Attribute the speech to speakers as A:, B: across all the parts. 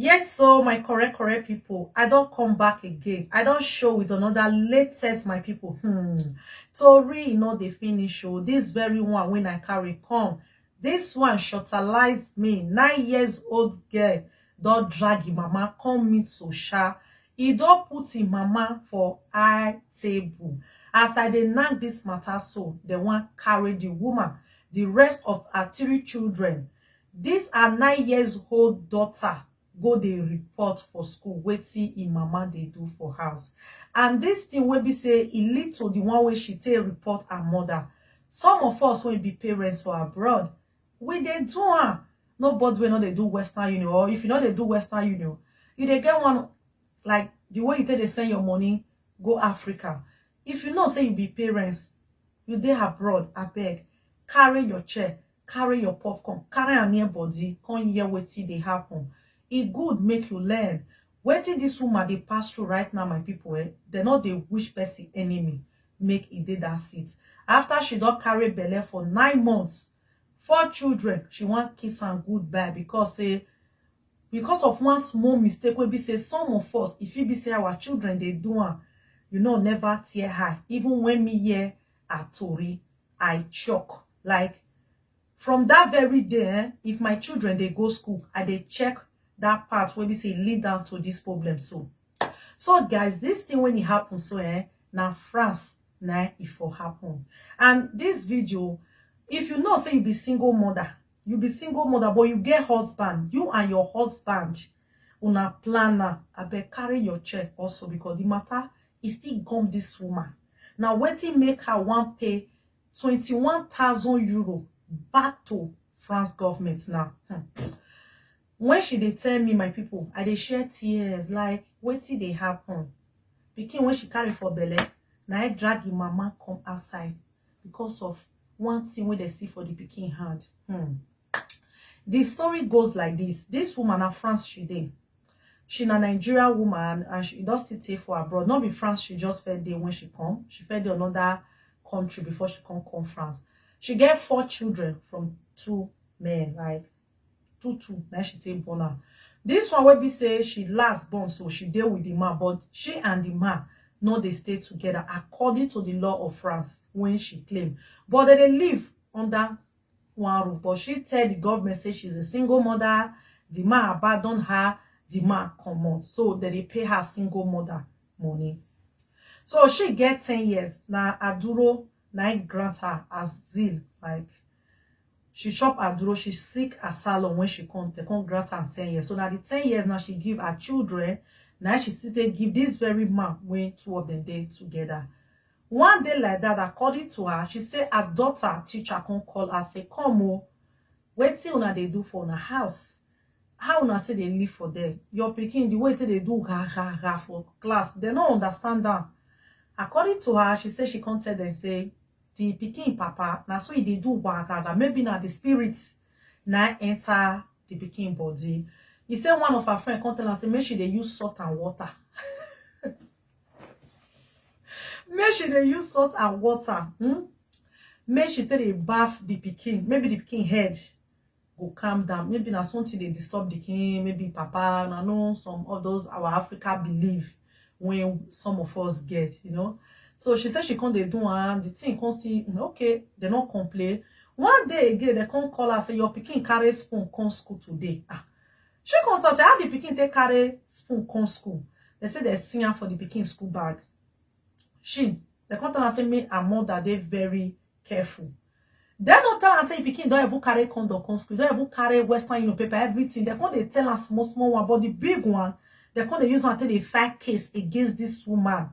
A: Yes, so my correct, correct people, I don't come back again. I don't show with another latest, my people. Hmm. Tori, you know, they finish show. Oh. This very one, when I carry come, this one shortalized me. Nine years old girl, don't drag him, mama, come meet Sosha. He don't put him, mama, for eye table. As I dey knack this matter so, the one carry the woman, the rest of her three children, Dis her nine years old daughter go dey report for school wetin im mama dey do for house and dis thing wey be say e lead to the one wey she take report her mother. Some of us wey be parents for abroad, we dey do am. Nobody wey no dey do Western Union or if you no dey do Western Union, you dey get one like the way you take dey send your money go Africa. If you know say you be parents, you dey abroad, abeg carry your chair carry your puff come carry am near body come hear wetin dey happen e good make you learn wetin this woman dey pass through right now my people eh dem no dey wish person enemy make e dey that seat after she don carry belle for nine months four children she wan kiss am goodbye because say because of one small mistake wey be say some of us e fit be say our children dey do am you know never tear her even when me hear her tori, I chock. Like, from that very day, eh, if my children dey go school, I dey check that part wey be say e lead down to this problem so. So guys, this thing when e happen so, eh, na France na e for happen. And this video, if you know say you be single mother, you be single mother but you get husband, you and your husband Una plan am abeg carry your chair also because the matter e still gum this woman na wetin make her wan pay twenty one thousand euro back to France government na hmm. when she dey tell me my people I dey share tears like wetin dey happen pikin wey she carry for belle na I drag the mama come outside because of one thing wey dey see for the pikin hand hmm. The story goes like this. This woman na France she dey. She na Nigeria woman and she don still stay for abroad. Not be France she just fed day when she come. She fed day another country before she come come France. She get four children from two men, like two two. Now she take born am. This one wey be say she last born, so she dey with the man, but she and the man no dey stay together according to the law of France when she claim. But they dey live under wan roof but she tell the government say she's a single mother the man abandon her the man comot so dem dey pay her single mother money so she get ten years na aduro na im grant her as zeal like she chop aduro she sick asylum when she come dem come grant am ten years so na the ten years na she give her children na im she still take give this very man wey two of them dey together One day like dat, according to her, she say her daughter teacher come call her say, Come o, wetin una dey do for una house? How una take dey live for there? Your pikin, the way e take dey do gha-gha-gha for class, dem no understand am. According to her, she say she come tell dem say the pikin papa, na so e dey do wha-gha-gha, maybe na the spirit na im enter the pikin body. E say one of her friend come tell am say make she dey use salt and water. make she dey use salt and water hmm? make she take dey baff the pikin maybe the pikin head go calm down maybe na something dey disturb the pikin maybe papa na know some of those our africa belief wey some of us get you know so she say she come dey do am the thing come still hmm, okay dem no complain one day again dem come call her say your pikin carry spoon come school today ah She come talk say how the pikin take carry spoon come school. They say they see am for the pikin school bag. She, they come tell am say me and mother dey very careful. Dem no tell am say the pikin don even carry condom come school, don even carry western union paper, everything. They come dey tell am small small one, but the big one, they come dey use am take dey file case against this woman.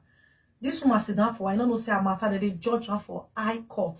A: This woman sit down for, I no know say her matter, they dey judge am for high court.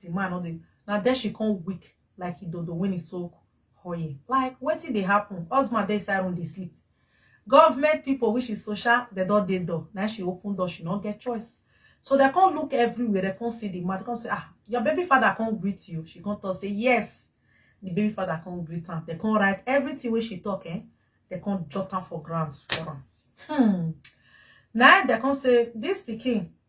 A: the man no dey na there she come weak like idodo when he soak oil like wetin dey happen husband dey inside room dey sleep government people which is social they don dey door na she open door she no get choice so they come look everywhere they come see the man they come say ah your baby father come greet you she come talk say yes the baby father come greet am they come write everything wey she talk eh they come jot am for ground for am hmm na they come say this pikin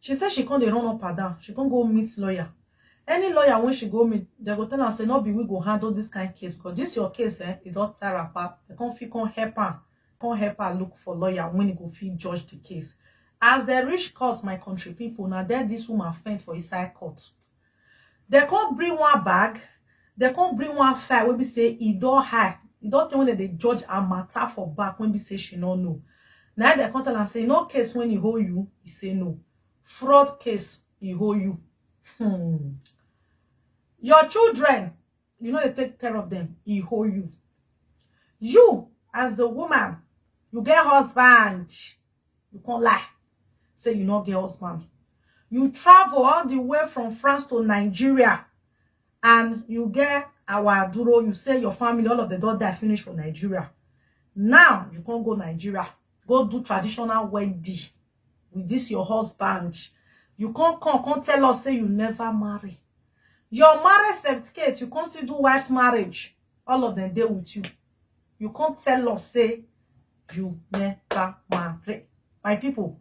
A: She say she come dey run up and down, she come go meet lawyer. Any lawyer wey she go meet, dem go tell am say no be we go handle this kind case because this your case eh, e don tire apa. Dem come fit come help am, come help her look for lawyer when e go fit judge the case. As dem reach court, my country people, na there this woman faint for inside court. Dem come bring one bag, dem come bring one file wey be say e don high, e don tey wey dem dey judge her matter for back wey be say she no know. Na im dem come tell am say e no case wey e hold you? E say no. Fraud case e hold you. Your children you know they take care of them he hold you you as the woman you get husband you can't lie say you not get husband you travel all the way from france to nigeria and you get our duro you say your family all of the don die finish for nigeria now you can't go nigeria go do traditional wedding with this your husband you can't come come tell us say you never marry your marriage certificate you can't still do white marriage all of them there with you you can't tell us say you never marry my people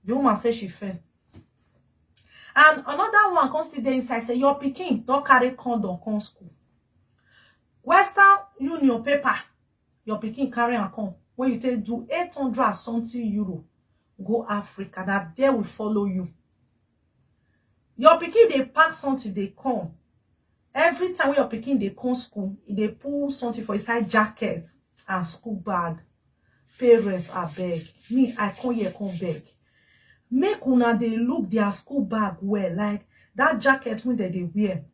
A: the woman say she first and another one come still dey inside say your pikin don carry condom come school western union paper your pikin carry am come when you take do 800 and something euro go africa na there we follow you your pikin dey pack something dey come every time wey your pikin dey come school e dey pull something for inside jacket and school bag parents abeg me i come here come beg make una dey look their school bag well like that jacket wey dem dey wear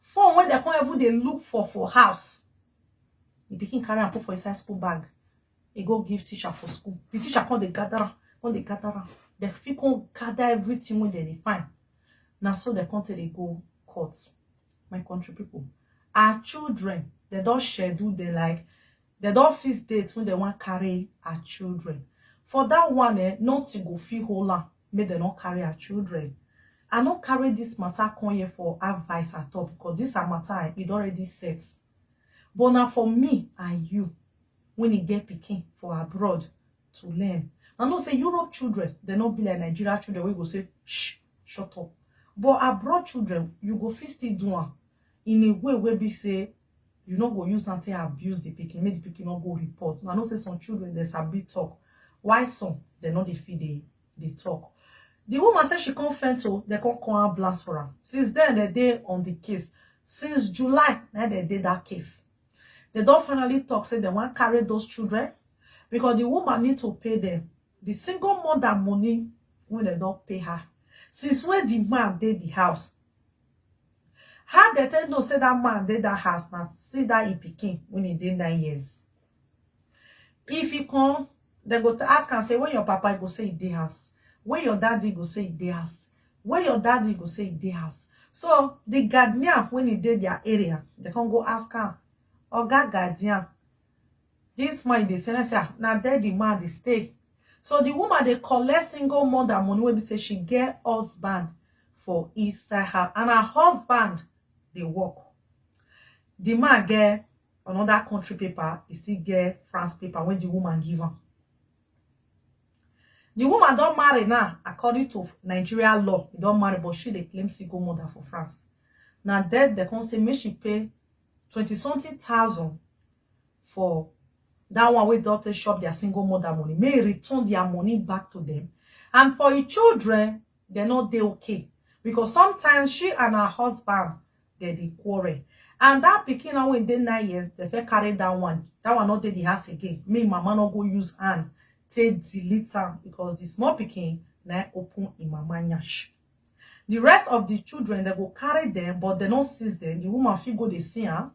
A: phone wey dem come even dey look for for house the pikin carry am put for inside school bag e go give teacher for school the teacher come dey gather am come dey gather am dem fit come gather everything wey dem dey find na so dem come take dey go court my country people our children dem don schedule dem like dem don fix date wey dem wan carry our children for that one eh nothing go fit hold am make dem no carry her children i no carry this matter come here for advice at all because this her matter and it already set but na for me and you when e get pikin for abroad to learn i know say europe children dem no be like nigeria children wey go say shh shut up but abroad children you go fit still do am in a way wey be say you no go use am take abuse the pikin make the pikin no go report i know say some children dey sabi talk why some dem no dey fit dey dey talk the woman say she come faint o dem come call am blast for am since then dem dey on the case since july na dem dey that case dem don finally talk say dem wan carry those children because the woman need to pay them Di single mother money wey dem don pay her since wey di man dey di house, how dem take know say dat man dey dat house na still dat im pikin wey e dey nine years. If e come, dem go ask am say where your papa? E go say e dey house. Where your daddy? E go say e dey house. Where your daddy? E go say e dey house. So, di guardian wey e dey dia area, dem come go ask am, Oga guardian, This man dey send say ah, na there the man dey stay. So the woman dey collect single mother money wey be say she get husband for inside her and her husband dey work. The man get another country paper, he still get France paper when the woman give am. The woman don marry now, according to Nigeria law, he don marry, but she dey claim single mother for France. Now that they come say make she pay 20 something thousand for that one wey doctor shop their single mother money may return their money back to them and for your children they're not they okay because sometimes she and her husband they dey quarrel and that picking now when they nine years they fẹ́ carry that one that one not dey the house again me mama no go use hand take delete am because the small picking now open in mama nyash The rest of the children, they go carry them, but they no seize them. The woman fit go dey see am,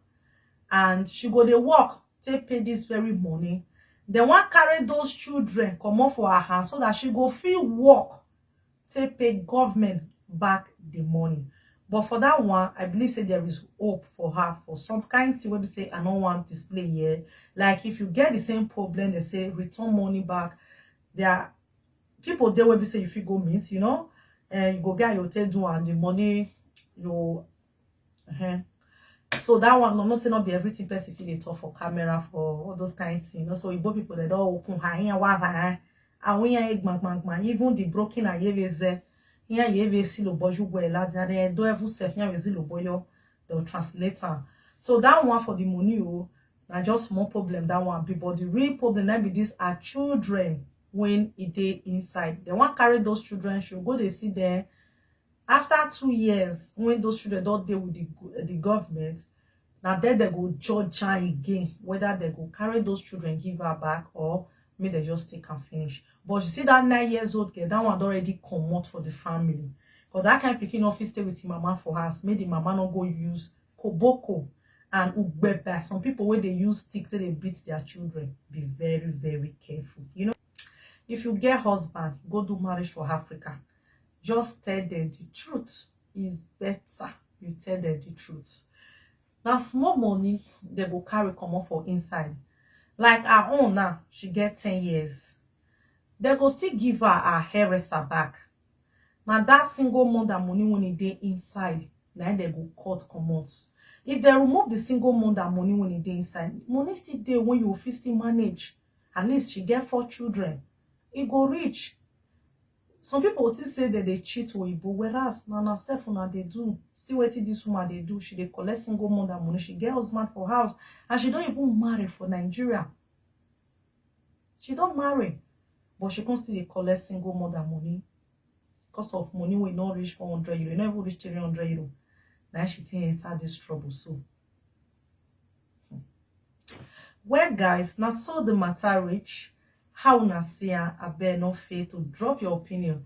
A: and she go dey work take pay this very money. They wan carry those children comot for her hand so that she go fit work take pay government back the money. But for that one, I believe say there is hope for her for some kind thing wey be say I no wan display here. Like if you get the same problem, they say return money back. There are people there will be say if you go meet you know and eh, you go get your take do and the money you uh eh. -huh. so that one i'm not saying not be everything person feel it for camera for all those kinds you know so igbo people they don't open her here wa ha àwọn yẹn egbon gbon even the broken ayeveze here ayeveze lo boju gwe la dia de do evu sef here ayeveze lo boyo the translator so that one for the money oh na just more problem that one be but the real problem na be this are children when e dey inside dem wan carry those children show go dey see dem after two years when those children don dey with the, the government na then dem go judge her again whether dem go carry those children give her back or make dem just take am finish but you see that nine years old girl that one don already comot for the family because that kind pikin no fit stay with him mama for house make the mama no go use koboko and ugbeba some people wey dey use stick take dey beat their children be very very careful you know if you get husband go do marriage for africa just tell them the truth is better you tell them the truth na small money dem go carry comot for inside like her own now she get ten years dem go still give her her hairdresser back na that single mother money when e dey inside na im dem go cut comot if dem remove the single mother money when e dey inside money still dey when you go fit still manage at least she get four children e go reach some people go think say dem dey cheat oyibo whereas na na self una dey do see wetin this woman dey do she dey collect single mother money she get husband for house and she don even marry for nigeria She don marry, but she come still dey collect single mother money because of money wey no reach 400 euro, e no even reach 300 euro. Now she take enter this trouble so. Hmm. Well, guys, now so the matter reach. How una see am? Abeg no fail to drop your opinion